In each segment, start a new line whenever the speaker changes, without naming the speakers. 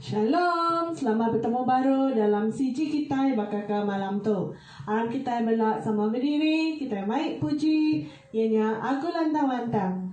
Shalom. Selamat betemu baru dalam CG kitai baka ke malam tu. Aram kitai bela sama bediri, kitai mai puji, iya nya Agu Lantang-Lantang.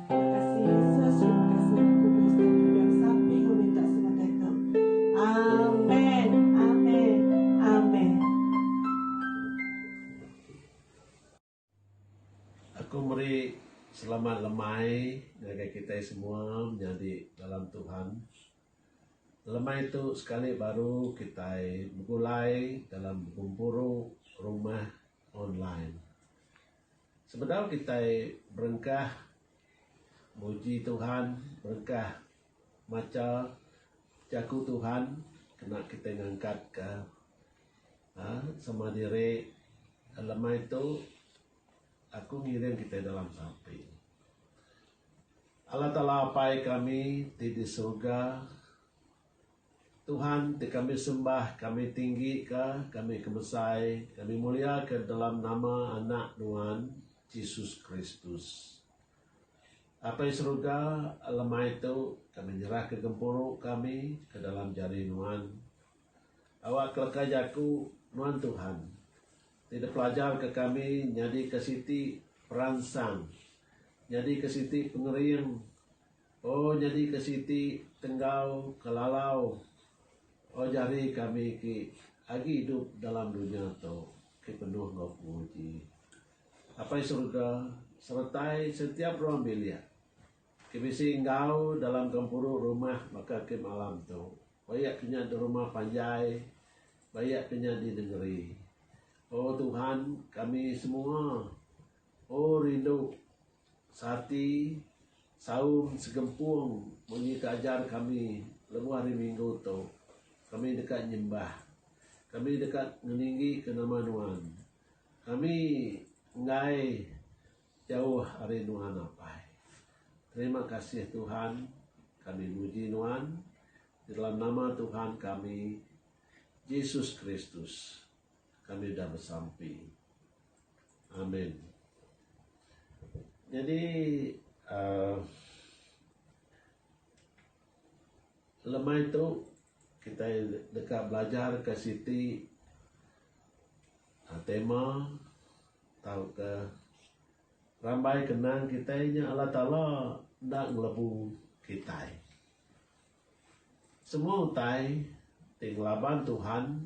Kasih Yesus terima kasih Roh Kudus tang nyudah sapi enggau minta sebagai tu. Amen. Amen. Amen. Aku meri selamat lemai ngagai kitai semua menyadi dalam Tuhan. Lemai tu sekali baru kitai begulai dalam gempuru rumah online. Sebedau kitai berengkah muji Tuhan, berengkah macha Jaku Tuhan kena kitai ngangkatka sama diri lemai tu aku ngiring kitai dalam sampi. Allah Taala Apai kami ti di surga Tuhan ti kami sembah, kami tinggika, kami kemesai, kami muliaka dalam nama Anak Nuan, Jesus Kristus. Apai Seruga, lemai tu kami nyerahka gempuru kami ke dalam jari Nuan. Awak keleka jaku Nuan Tuhan ti dipelajarka kami nyadika siti peransang, nyadika siti pengering, Oh nyadi ke siti tenggau ke lalau oh jari kami ki agi idup dalam dunya tu ke penuh enggau penguji. Apai Surga seretai setiap ruang bilik ke bisi enggau dalam gempuru rumah baka ke malam tu, ba iya ke nya di rumah panjai, ba iya ke nya di nengeri. Oh Tuhan kami semua oh rindu Sarti, saum, segempung munyi ke ajar kami lebuh hari minggu tu. Kami deka nyembah. Kami deka ngeninggika nama Nuan. Kami enggai jauh ari Nuan apai. Terima kasih Tuhan. Kami muji Nuan. Di dalam nama Tuhan kami, Jesus Kristus. kami udah besampi. Amin. Nyadi uh, lemai tu kita deka belajar ke siti uh, tema tau ke rambai kenang kita nya Allah Taala enda ngelebu kita. Semua utai ti ngelaban Tuhan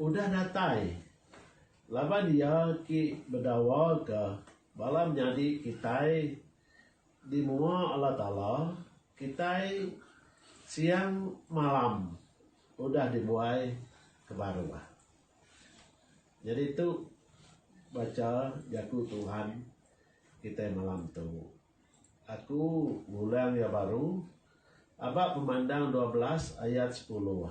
Udah datai. Laban iya ki bedawa ke bala menyadi kitai di mua Allah Taala, kitai siang malam udah dibuai ke baruh. Nyadi tu bacha jaku Tuhan kitai malam tu. Aku ngulang iya baru aba Pemandang dua belas ayat sepuluh.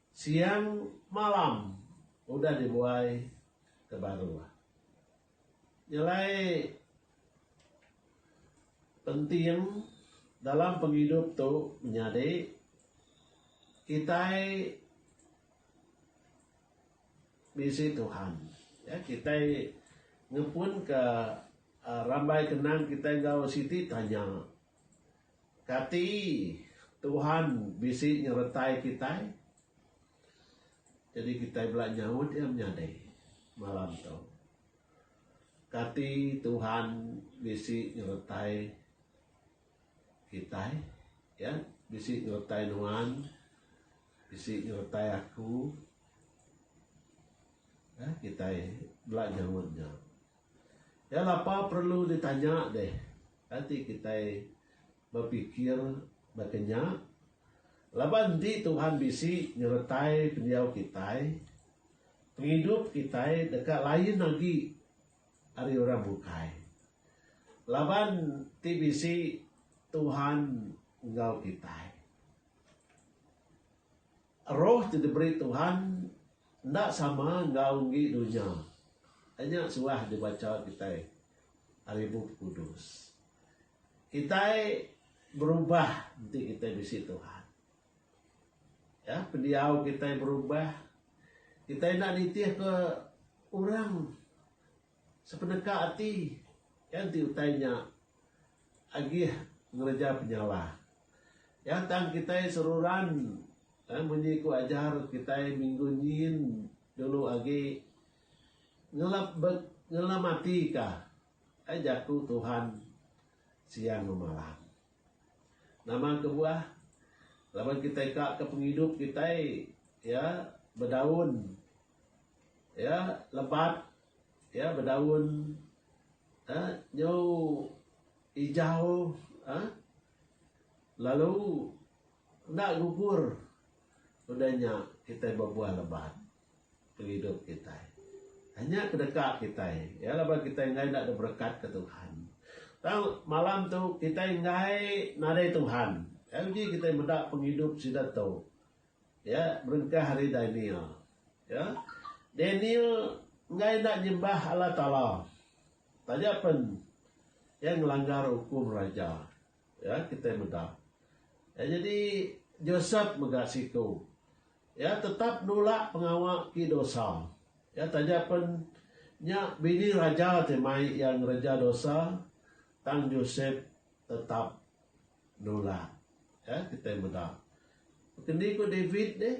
Siang malam udah dibuai ke baruh. Nya alai penting dalam pengidup tu menyadi kitai bisi Tuhan. Ya kitai ngepunka rambai kenang kitai enggau siti tanya. Kati Tuhan bisi nyeretai kitai jadi kitai bela nyaut iya menyadi malam tu. Kati Tuhan bisi nyeretai kitai ya bisi nyeretai nuan bisi nyeretai aku ya kitai bela nyaut nya. Iya lapa perlu ditanya deh, kai ti kitai bepikir baka nya? Laban enti Tuhan bisi nyertai pendiau kitai, pengidup kitai deka lain agi ari orang bukai. Laban ti bisi Tuhan enggau kitai. Roh ti diberi Tuhan Enda sama enggau enggi dunya. Ai nya suah dibacha kitai ari Bup Kudus. Kitai berubah enti kitai bisi Tuhan. Ya, pendiau kitai berubah. Kitai enda nitihka orang. Sepeneka ati, iya enti utai nya agih ngereja penyalah. Iya tang kitai seruran munyi ku ajar kitai minggu nyin dulu agi, Ngelap be ngelam ati ka, ai jaku Tuhan siang enggau malam. Nama kebuah? Laban kitai ka ke pengidup kitai iya bedaun. Iya lebat, iya bedaun uhh nyu ijau uhh lalu enda gugur udah nya kitai bebuah lebat pengidup kitai. Nya ke deka kitai iya laban kitai enggai enda ada berekat ke Tuhan. Tang malam tu kitai enggai nadai Tuhan, nya uji kitai meda pengidup sida tu. Iya berengkah ari Daniel. Ya. Daniel enggai enda nyembah Allah Taala. Taja pen iya ngelanggar ukum raja. Ya, kitai meda. Ya, nyadi Joseph mega siku. Iya tetap nulak pengawa ti dosa. Ya, taja pen nya bini raja ti mai iya ngereja dosa, tang Joseph tetap. nulak. Ya, kitai meda. Bekendi ku David nih,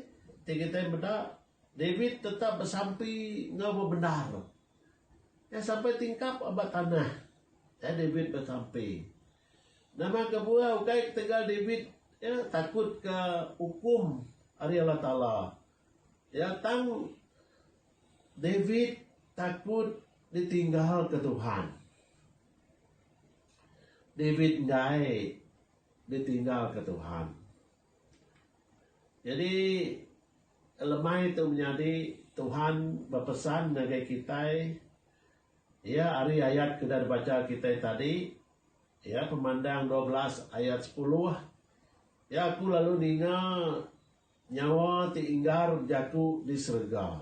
ti kitai meda, David tetap besampi enggau bebendar. Iya sampai tingkap ba tanah. Ya, David besampi. Nama kebuah ukai ketegal David ya, takut ke hukum ari Allah Taala. Ya, tang David takut ditinggal ke Tuhan. David enggai ditinggalka Tuhan. Nyadi lemai tu menyadi Tuhan bepesan ngagai kitai iya ari ayat ke udah dibacha kitai tadi iya Pemandang dua belas ayat sepuluh iya aku lalu ninga nyawa ti inggar bejaku di serega.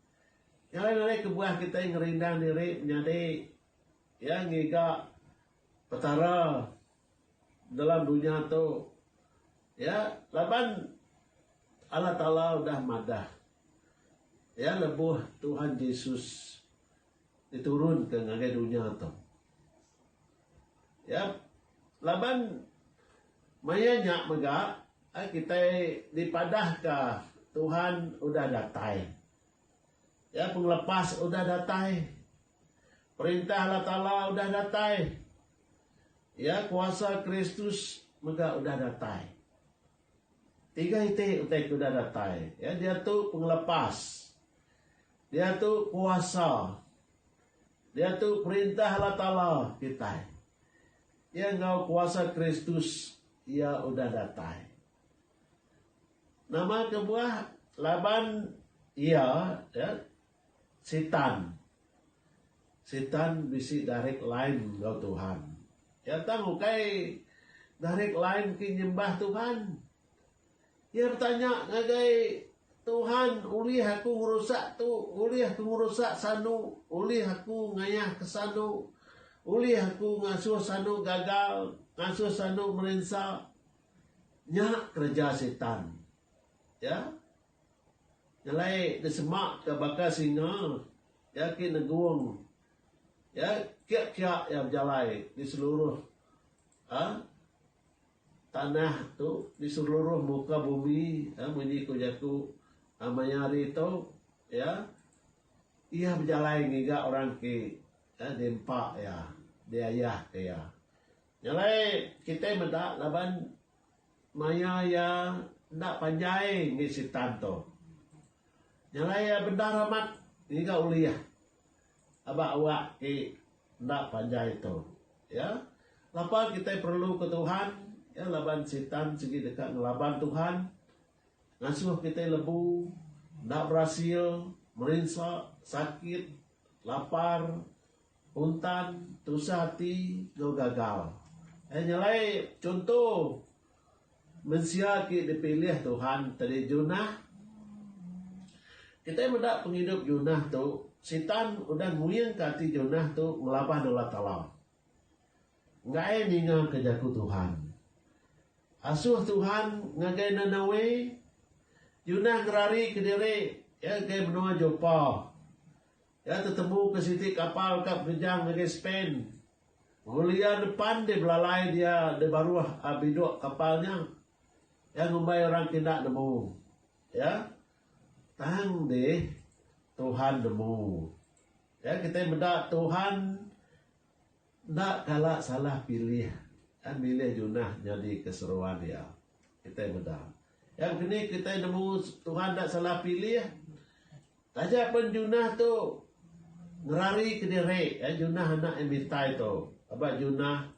Nyadi nadai kebuah kitai ngerindang diri menyadi iya ngiga Petara dalam dunya tu iya laban Allah Taala udah madah iya lebuh Tuhan Jesus. Diturunka ngagai dunya tu. Yap. Laban maya nya mega ai kitai dipadahka Tuhan udah datai. Ya pengelepas udah datai. Perintah Allah Taala udah datai. Ya kuasa Kristus mega udah datai. Tiga iti utai ke udah datai. Ya diatu pengelepas. Diatu kuasa. Diatu perintah Allah Taala kitai. Iya enggau kuasa Kristus iya udah datai. Nama kebuah laban iya ya Sitan. Sitan bisi direct line enggau Tuhan. Iya tang ukai direct line ti nyembah Tuhan. Iya betanya ngagai Tuhan, Ulih aku ngerusak tu? Ulih aku ngerusak sanu? Ulih aku ngayah ke sanu? Ulih aku ngasuh sanu gagal, ngasuh sanu merinsa? Nya kereja Sitan. Ya. Nyelai disemaka baka singa, iya agi negung. Ya, kia-kia iya bejalai di seluruh ha? Tanah tu di seluruh muka bumi, munyi ku jaku maya hari tu, iya iya bejalai ngiga orang ti diempa iya, diayahka iya. Nya alai kitai meda laban maya iya enda panjai ngagai Sitan tu. Nya alai iya bendar amat ngiga ulih. Aba awak ti enda panjai tu. Ya. Lapa kitai perluka Tuhan? Ya, laban Sitan sigi deka ngelaban Tuhan, ngasuh kitai lebu, enda berasil, merinsa, sakit, lapar, puntan, tusah ati, enggau gagal. Nyelai chunto Mensia ti dipilih Tuhan tadi Jonah. Kitai meda pengidup Jonah tu, Sitan udah nguingka ati Jonah tu ngelabah nulak kala. Enggai ningaka jaku Tuhan. Asuh Tuhan ngagai Nanawe, Jonah ngerarika diri iya ngagai menua Jopa. Iya tetebu ke siti kapal ka penejang ngagai Spain. Pengelia depan deh belalai dia deh baruh a biduk kapal nya. Iya ngumbai orang ke enda nemu iya, Tang deh, Tuhan nemu. Iya kitai meda Tuhan. Enda kala salah pilih dan milih Junah nyadi ke seruan iya. Kitai meda. Yang kini kitai nemu Tuhan enda salah pilih. Taja pen Junah tu ngerari ke diri iya Junah anak Emitai tu. Aba Junah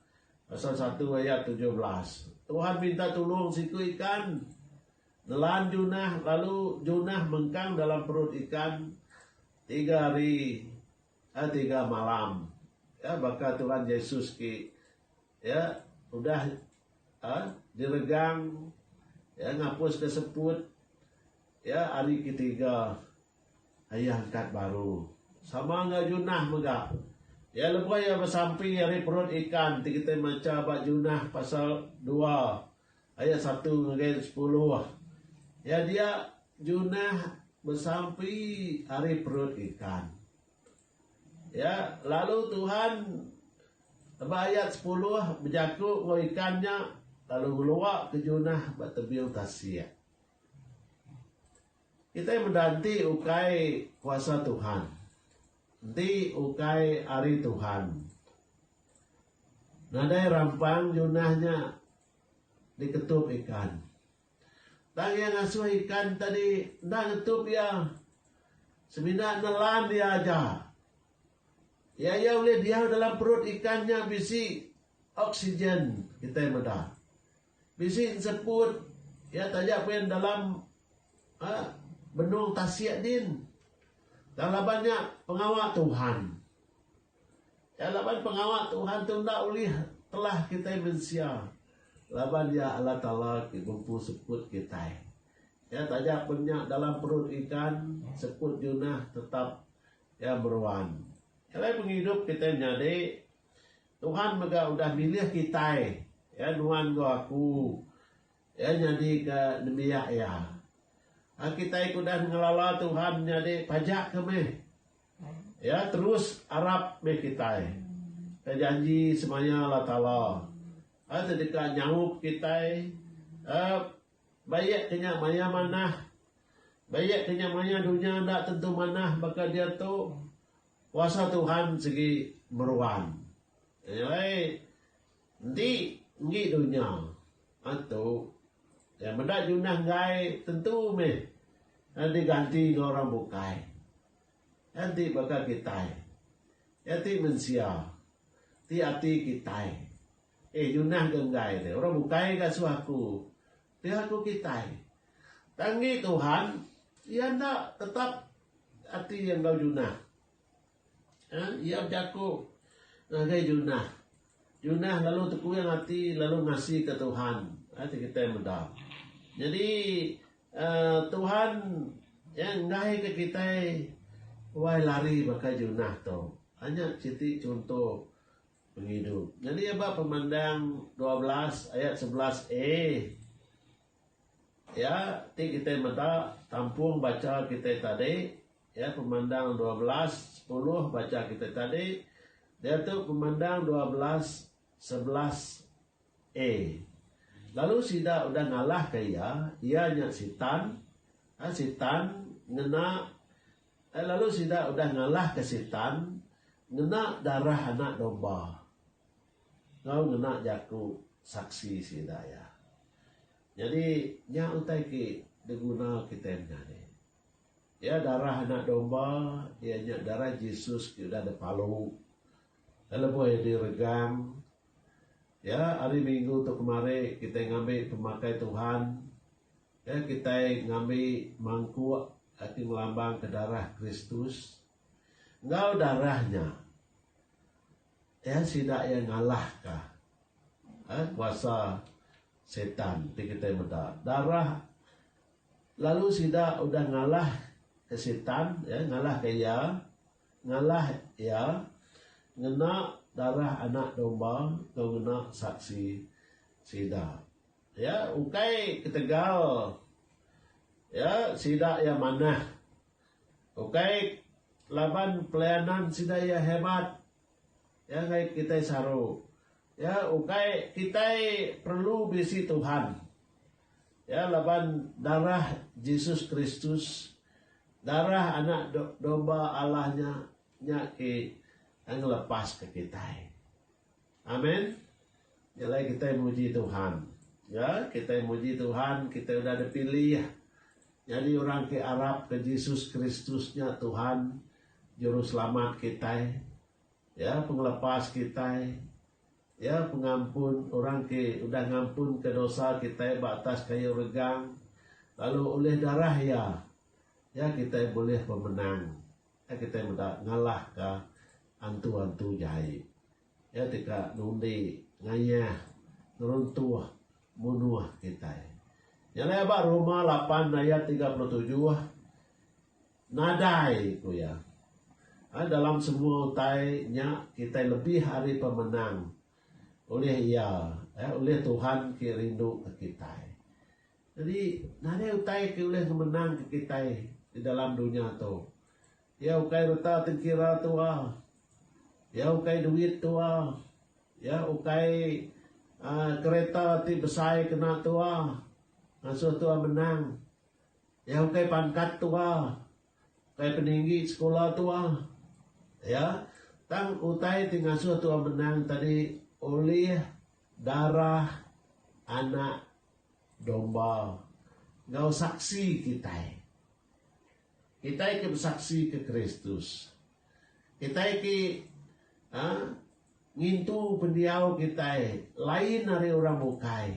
pasal satu ayat tujuh belas. Tuhan minta tulung siku ikan nelan Junah lalu Junah mengkang dalam perut ikan tiga hari. Ka tiga malam, ya, baka Tuhan Jesus ti, ya, udah, ya, diregang, ya, ngapuska seput, ya, ari ke tiga, Iya angkat baru. Sama enggau Junah mega. Ya, lebuh iya besampi ari perut ikan ti kitai macha ba Junah pasal dua. Ayat satu ngagai sepuluh. Ya dia, Jonah besampi ari perut ikan. Ya, lalu Tuhan ba ayat sepuluh bejaku enggau ikan nya lalu ngeluarka Jonah ba tebing tasik. Kitai meda enti ukai kuasa Tuhan. Enti ukai ari Tuhan. Nadai rampang Jonah nya. diketup ikan. Tang iya ngasuh ikan tadi enda ngetup iya semina nelan iya aja. Iya iya ulih diau dalam perut ikan nya bisi oksigen kitai meda. Bisi enseput iya taja pia dalam uhh benung tasik din. Tang laban nya pengawa Tuhan. Iya laban pengawa Tuhan tu enda ulih telah kitai mensia laban iya Allah Taala ti ngempu sekut kitai. Iya taja pen nya dalam perut ikan sekut Jonah tetap iya meruan. Alai pengidup kitai menyadi Tuhan mega udah milih kitai iya nuan enggau aku iya nyadika nembiak iya. Kitai ke udah ngelala Tuhan nyadi pajak ke meh. Iya terus arap meh kitai. Ke janji semaya Allah Taala eh ti deka nyaup kitai eh ba iya ke nya maya manah. Ba iya ke nya maya dunya enda tentu manah baka diatu kuasa Tuhan sigi meruan. Nyelai enti enggi dunya eh tu iya meda junah enggai tentu meh diganti enggau orang bukai. Enti baka kitai. Iya ti mensia. Ti ati kitai. Eh nyunah ke enggai deh. Orang bukai ke asuh aku. Ti aku kitai. Tang ngi Tuhan. Iya enda tetap ati iya enggau junah. Hah iya bejaku ngagai junah. Junah lalu tekuing ati lalu ngasi ke Tuhan. Hah ti kitai meda. Nyadi Tuhan iya ngaihka kitai wai lari baka Junah tu. Anya siti chunto pengidup. Nyadi ba Pemandang dua belas ayat sebelas a iya ti kitai meda tampung bacha kitai tadi iya Pemandang dua belas sepuluh bacha kitai tadi diatu Pemandang dua belas sebelas. A. Lalu sida udah ngalahka iya, iya nya Sitan, a Sitan ngena A. Lalu sida udah ngalahka Sitan ngena darah Anak Domba enggau ngena jaku saksi sida iya. Nyadi, nya utai ti diguna kitai menya ni. Iya darah Anak Domba, iya nya darah Jesus ti udah dipalu lebuh iya diregang. Iya hari minggu tu kemari kitai ngambi pemakai Tuhan iya kitai ngambi mangkuk ti ngelambangka darah Kristus. Enggau darah nya iya sida iya ngalahka uhh kuasa setan ti kitai meda darah lalu sida udah ngalahka setan iya ngalahka iya. Ngalah iya ngena darah Anak Domba enggau ngena saksi sida. Iya ukai ketegal iya sida iya manah. Ukai laban pelayanan sida iya hebat. Iya ngagai kitai saru. Iya ukai kitai perlu bisi Tuhan. Iya laban darah Jesus Kristus, darah Anak Domba Allah nya, nya ke ngelepaska kitai. Amen. Nya alai kitai muji Tuhan. Ya, kitai muji Tuhan, kitai udah dipilih nyadi orang ke arapka Jesus Kristus nya Tuhan, Juruselamat kitai. Iya pengelepas kitai. Iya pengampun orang ke udah ngampunka dosa kitai ba atas kayu regang, lalu ulih darah Iya, iya kitai bulih pemenang. Iya kitai meda ngalahka antu-antu jai. Iya ti ka nundi, ngayah, ngeruntuh, munuh kitai. Nya alai ba Roma lapan ayat tiga puluh tujuh. Nadai, ku iya. A Dalam semua utai nya kitai lebih ari pemenang ulih Iya, eh, ulih Tuhan ke rinduka kitai. Nyadi, nadai utai ke ulih ngemenangka kitai di dalam dunya tu. Iya ukai reta tengkira tua. Iya ukai duit tua. Iya ukai uhh kereta ti besai kena tua ngasuh tua menang. Iya ukai pangkat tua, ukai peninggi sekula tua. Iya, tang utai ti ngasuh tua menang tadi ulih darah Anak Domba enggau saksi kitai. Kitai ke besaksika Kristus. Kitai ke uhh ngintu pendiau kitai lain ari orang bukai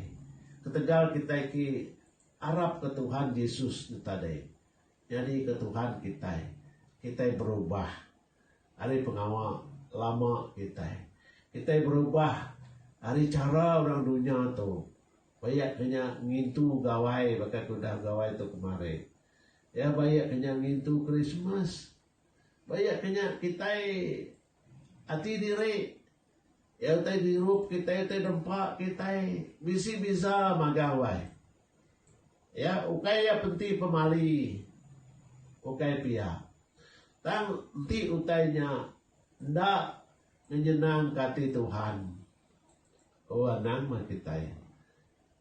ketegal kitai ke Arap ke Tuhan Jesus ne tadi nyadi ke Tuhan kitai, kitai berubah ari pengawa lama kitai. Kitai berubah ari chara orang dunya tu ba iya ke nya ngintu gawai baka ke udah begawai tu kemari. Iya ba iya ke nya ngintu Krismas. Ba iya ke nya kitai ati diri. Iya utai ngirup kitai utai nempa kitai bisi biza magah wai. Iya ukai iya penti pemali ukai pia. Tang enti utai nya enda ngenyenangka ati Tuhan, oh anang meh kitai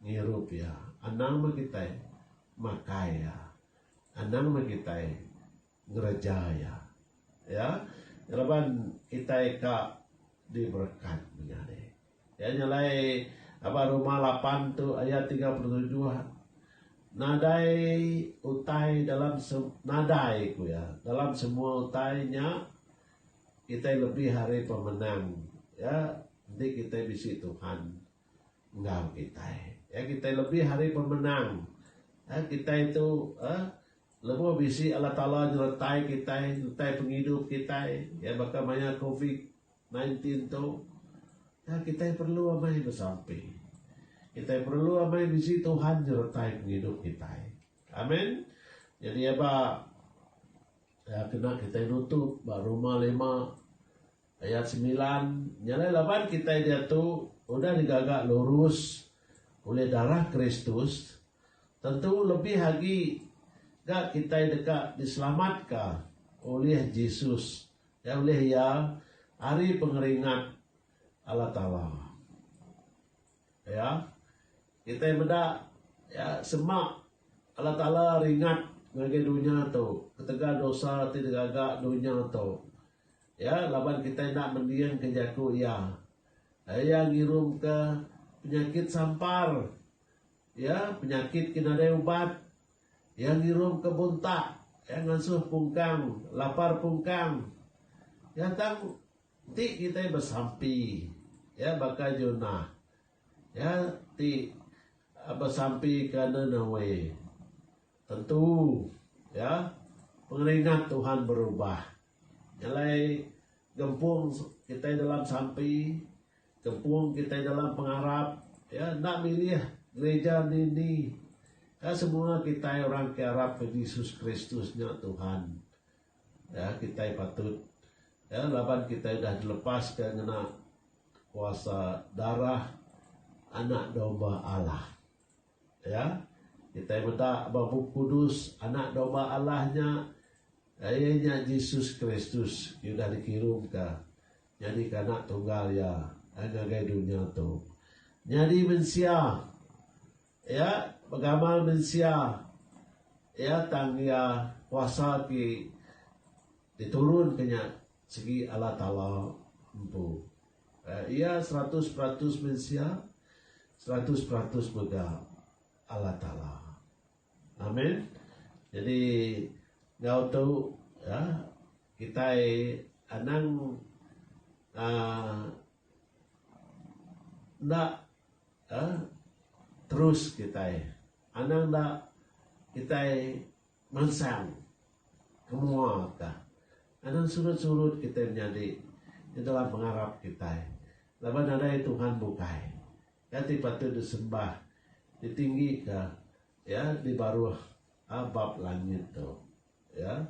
ngirup iya, anang meh kitai makai iya, anang meh kitai Ngereja iya. Ya. Laban kitai ka diberekat menyadi. Iya nya alai aba rumah lapan tu ayat tiga puluh tujuh nadai utai dalam nadai ku iya dalam semua utai nya kitai lebih ari pemenang ya enti kitai bisi Tuhan enggau kitai. Ya kitai lebih ari pemenang. Ya kitai tu eh Lebuh bisi Allah Taala nyertai kitai entai pengidup kitai iya baka maya covid nine tin tu, nya kitai perlu amai besampi. Kitai perlu amai bisi Tuhan nyertai pengidup kitai. Amen. Nyadi eba iya kena kitai nutup ba Roma lima ayat semilan, nya alai laban kitai diatu udah digaga lurus ulih darah Kristus, Tentu lebih agi ga kitai deka diselamatka ulih Jesus iya ulih iya ari pengeringat Allah Taala. Iya, kitai meda iya sema Allah Taala ringat ngagai dunya tu ketegal dosa ti digaga dunya tu. Iya laban kitai enda mendingka jaku iya. Iya ngirumka penyakit sampar. Iya penyakit ke nadai ubat. Iya ngirum ke buntak. Iya ngansuh pungkang, lapar pungkang. Iya tang ti kitai besampi. Iya baka Jonah. Iya ti besampi ke Ninawe. Tentu, iya pengeringat Tuhan berubah. Nya alai gempung kitai dalam sampi. Kempung kitai dalam pengarap iya enda milih gerija dini. Ka semua kitai orang ke arapka Jesus Kristus nya Tuhan iya kitai patut iya laban kitai udah dilepaska ngena kuasa darah Anak Domba Allah. Iya kitai meda ba Bup Kudus Anak Domba Allah nya iya nya Jesus Kristus ke udah dikirumka. Nyadika Anak Tunggal Iya ai ngagai dunya tu. Nyadi mensia Iya begamal mensia Iya tang Iya kuasa ti diturunka nya sigi Allah Taala empu. Iya seratus peratus mensia, seratus peratus mega Allah Taala. Amen. Jadi enggau tu ya kitai anang aaa enda ya terus kitai anang enda kitai mansang kemua ka anang surut-surut kitai menyadi di dalam pengarap kitai laban nadai Tuhan bukai. Nya ti patut disembah, ditinggika, ya, di baruh bab langit tu. Ya,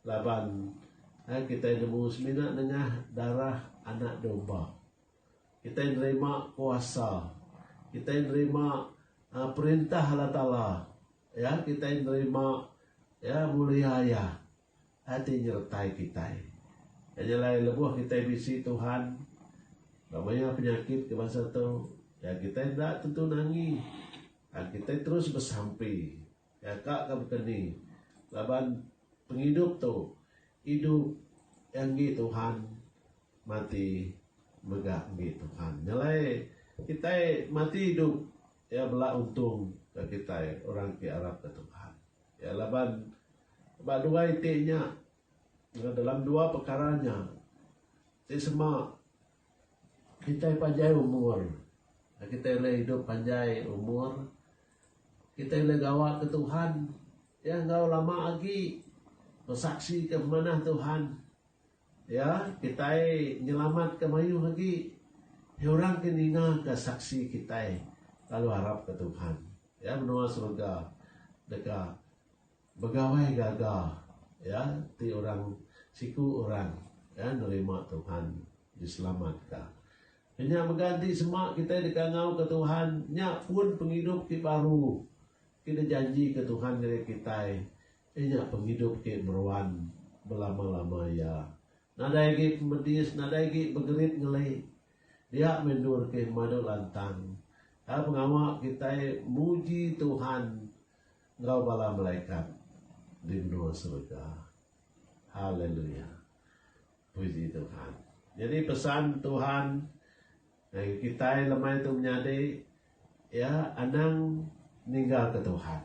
laban kitai nemu semina nengah darah Anak Domba, kitai nerima kuasa, kitai nerima perintah Allah Taala, ya, kitai nerima, ya, mulia Iya. Ati nyertai kitai. Nya nyelai lebuh kitai bisi Tuhan ba maya penyakit ke bansa tu, ya kitai enda tentu nangi. Tang kitai terus besampi nyaka ka baka ni laban pengidup tu idup iya enggi Tuhan, mati mega enggi Tuhan. Nyelai kitai mati idup iya bela untung ka kitai orang ti arapka Tuhan. Iya laban ba dua iti nya enggau dalam dua pekara nya ti sema kitai panjai umur. Lalu kitai ulih idup panjai umur, kitai ulih gawa ke Tuhan iya enggau lama agi besaksi ke pemanah Tuhan Ya, kitai nyelamatka mayuh agi iya orang ke ningaka saksi kitai lalu arapka Tuhan. Ya, menua serega deka begawai gaga ya ti orang siku orang ya nerima Tuhan diselamatka. Kenya mega enti sema kitai deka ngauka Tuhan, nya pun pengidup ti baru ti dijanjika Tuhan ngagai kitai Iya nya pengidup ti meruan belama-lama iya. Nadai agi pemedis, nadai agi begerit ngeli. Dia meh endur ke madu lantang. Tang pengawa kitai muji Tuhan enggau bala malaikat di menua serega. Haleluya. Puji Tuhan. Nyadi pesan Tuhan ngagai kitai lemai tu menyadi, iya anang ninggalka Tuhan.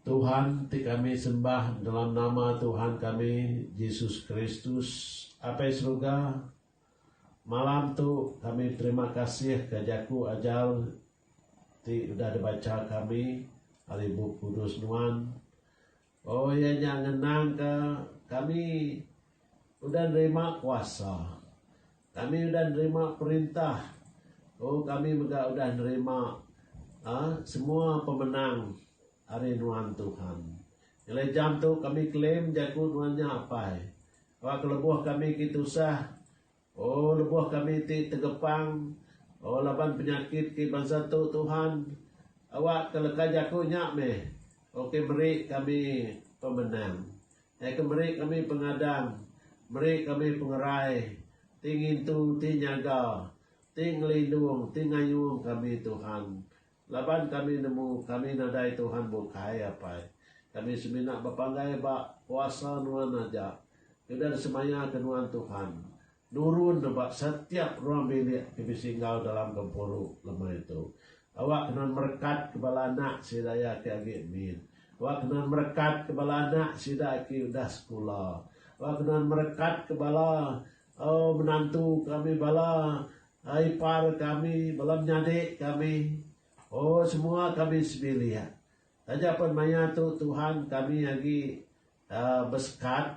Tuhan ti kami sembah dalam nama Tuhan kami Jesus Kristus apai seruga, malam tu kami beterima kasih ka jaku ajar ti udah dibacha kami ari Bup Kudus nuan. Oh iya nya ngenang ka kami udah nerima kuasa. Kami udah nerima perintah. Oh kami mega udah nerima uhh semua pemenang ari nuan Tuhan. Ngelai jam tu kami claim jaku nuan nya apai. Ba kelebuh kami ti tusah O lebuh kami ti tegepang, O laban penyakit ki bansa tu Tuhan, awak ka leka jaku nya meh, O ke meri kami pemenang. Ai ke meri kami pengadang, meri kami pengerai, ti ngintu, ti nyaga, ti ngelindung, ti ngayung kami Tuhan, Laban kami nemu kami nadai Tuhan bukai apai. Kami semina bepanggai ba kuasa nuan aja. Udah semaya ke nuan Tuhan. Nurun ne ba setiap ruang bilik ke bisi enggau dalam gempuru lemai tu. Awak ke nuan merekat ke bala anak sida iya ke agi min. Awak ke nuan merekat ke bala anak sida ke udah sekula. Awak ke nuan merekat ke bala Oh menantu kami bala ipar kami bala menyadi kami oh semua kami sebilik taja pen maya tu Tuhan kami agi uhh besekat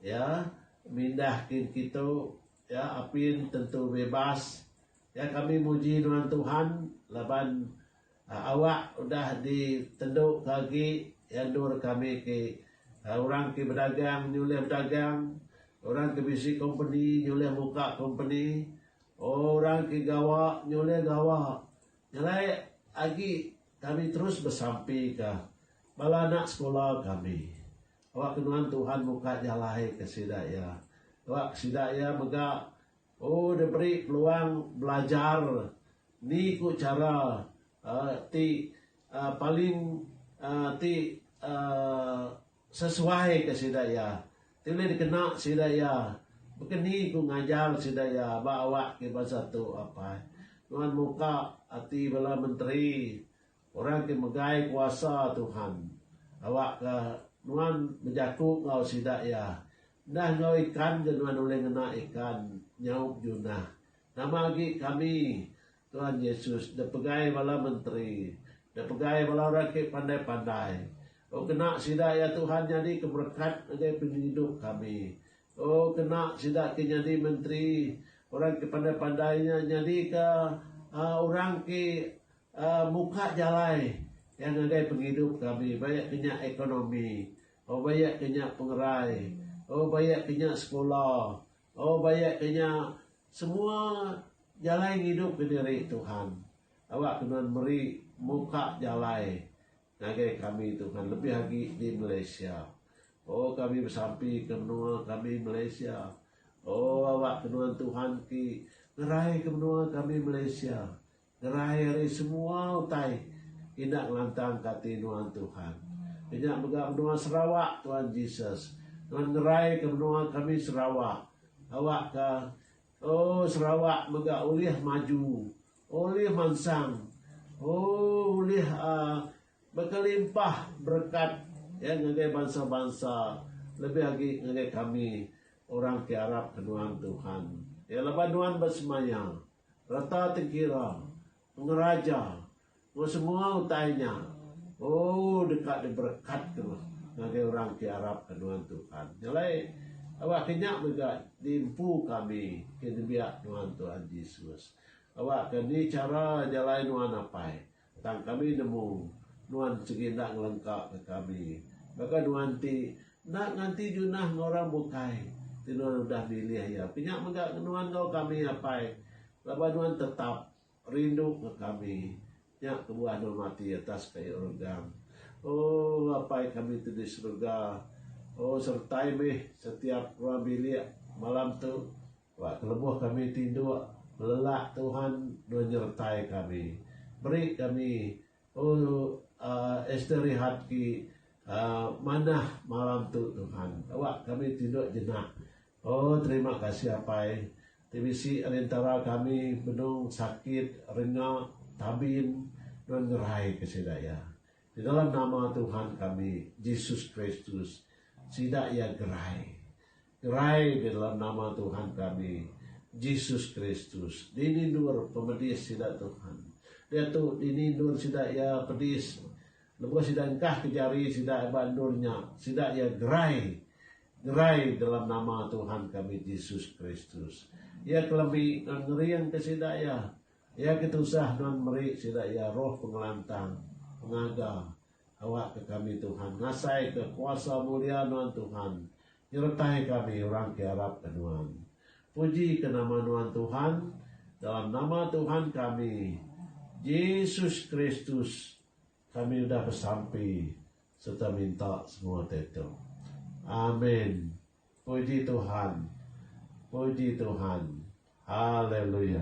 iya mindah kin kitu iya apin tentu bebas iya kami muji nuan Tuhan laban Awak udah ditentuka agi iya endur kami ti orang ti bedagang nyulih bedagang, orang ti bisi kompeni nyulih muka kompeni, orang ti gawa nyulih gawa. Nyelai agi kami terus besampika bala anak sekula kami. Awak ke nuan Tuhan muka jalai ke sida iya. Awak sida iya mega. Oh diberi peluang belajar ni ku chara ti paling ti sesuai ke sida iya ti ulih dikena sida iya baka ni ku ngajar sida iya ba awak ke bansa tu apai nuan muka ati bala menteri Orang ti megai kuasa Tuhan, awakka nuan bejaku enggau sida iya, Enda enggau ikan ke nuan ulih ngena ikan nyaup Junah. Nama agi kami, Tuan Yesus, dek pegai bala menteri, dek pegai bala orang ke pandai-pandai. O kena sida iya Tuhan nyadi ke berekat ngagai pengidup kami. O kena sida ke nyadi menteri, orang ke pandai-pandai nya nyadika orang ke Muka jalai iya ngagai pengidup kami ba iya ke nya ekonomi, oh ba iya ke nya pengerai, oh ba iya ke nya sekula, oh ba iya ke nya semua jalai ngidup ke diri Tuhan. Aba ke nuan meri muka jalai ngagai kami Tuhan lebih agi di Malaysia. Oh kami besampi ke menua kami Malaysia. Oh aba ke nuan Tuhan ti ngerai ke menua kami Malaysia. Ngerai ari semua utai enda ngelantang ka ati nuan Tuhan. Kenya mega menua Sarawak Tuan Jesus. Nuan ngerai ka menua kami Sarawak. Awak ka ooh Sarawak mega ulih maju, ulih mansang, ooh ulih aaa bekelimpah berekat ya ngagai bansa bansa lebih agi ngagai kami orang ti arap ka nuan Tuhan. Ya laban nuan besemaya. Reta Tengkira, Pengeraja, enggau semua utai nya, ooh deka diberekat ke meh ngagai orang ti arap ke nuan tu kan. Nya alai aba ke nya mega ti empu kami ke nembiak nuan Tuhan Jesus. Aba ke ni chara jalai nuan apai. Tang kami nemu nuan sigi enda ngelengkaka kami. Baka nuan ti enda nganti junah enggau orang bukai ti nuan udah milih iya. Ke nya mega nuan enggau kami apai laban nuan tetap rinduka kami. Nya kebuah nuan mati atas kayu regang. Oh Apai kami ti di serega. Oh sertai meh setiap ruang bilik malam tu Ba kelebuh kami ti enduk, belelak Tuhan dua nyertai kami. Beri kami, O Esther Rihat ki, manah malam tu Tuhan. Awak kami ti enduk jenak. O terima kasih Apai, ti bisi ari entara kami benung sakit, renga, tabin, nuan ngerai ke sida iya. Di dalam nama Tuhan kami, Jesus Kristus, sida iya gerai. Gerai di dalam nama Tuhan kami, Jesus Kristus, dinindur pemedis sida Tuhan. Diatu dinindur sida iya pedis lebuh sida engkahka jari sida ba endur nya, sida iya gerai. Gerai dalam nama Tuhan kami, Jesus Kristus. Iya kelemi nuan ngeringka sida iya. Iya ketusah nuan meri sida iya roh pengelantang, pengaga, Awakka kami Tuhan, ngasaika kuasa mulia Nuan Tuhan, nyeretai kami orang ke arapka Nuan. Pujika nama Nuan Tuhan, dalam nama Tuhan kami, Jesus Kristus, kami udah besampi sereta minta semua ditu. Amin. Puji Tuhan. Puji Tuhan. Haleluya.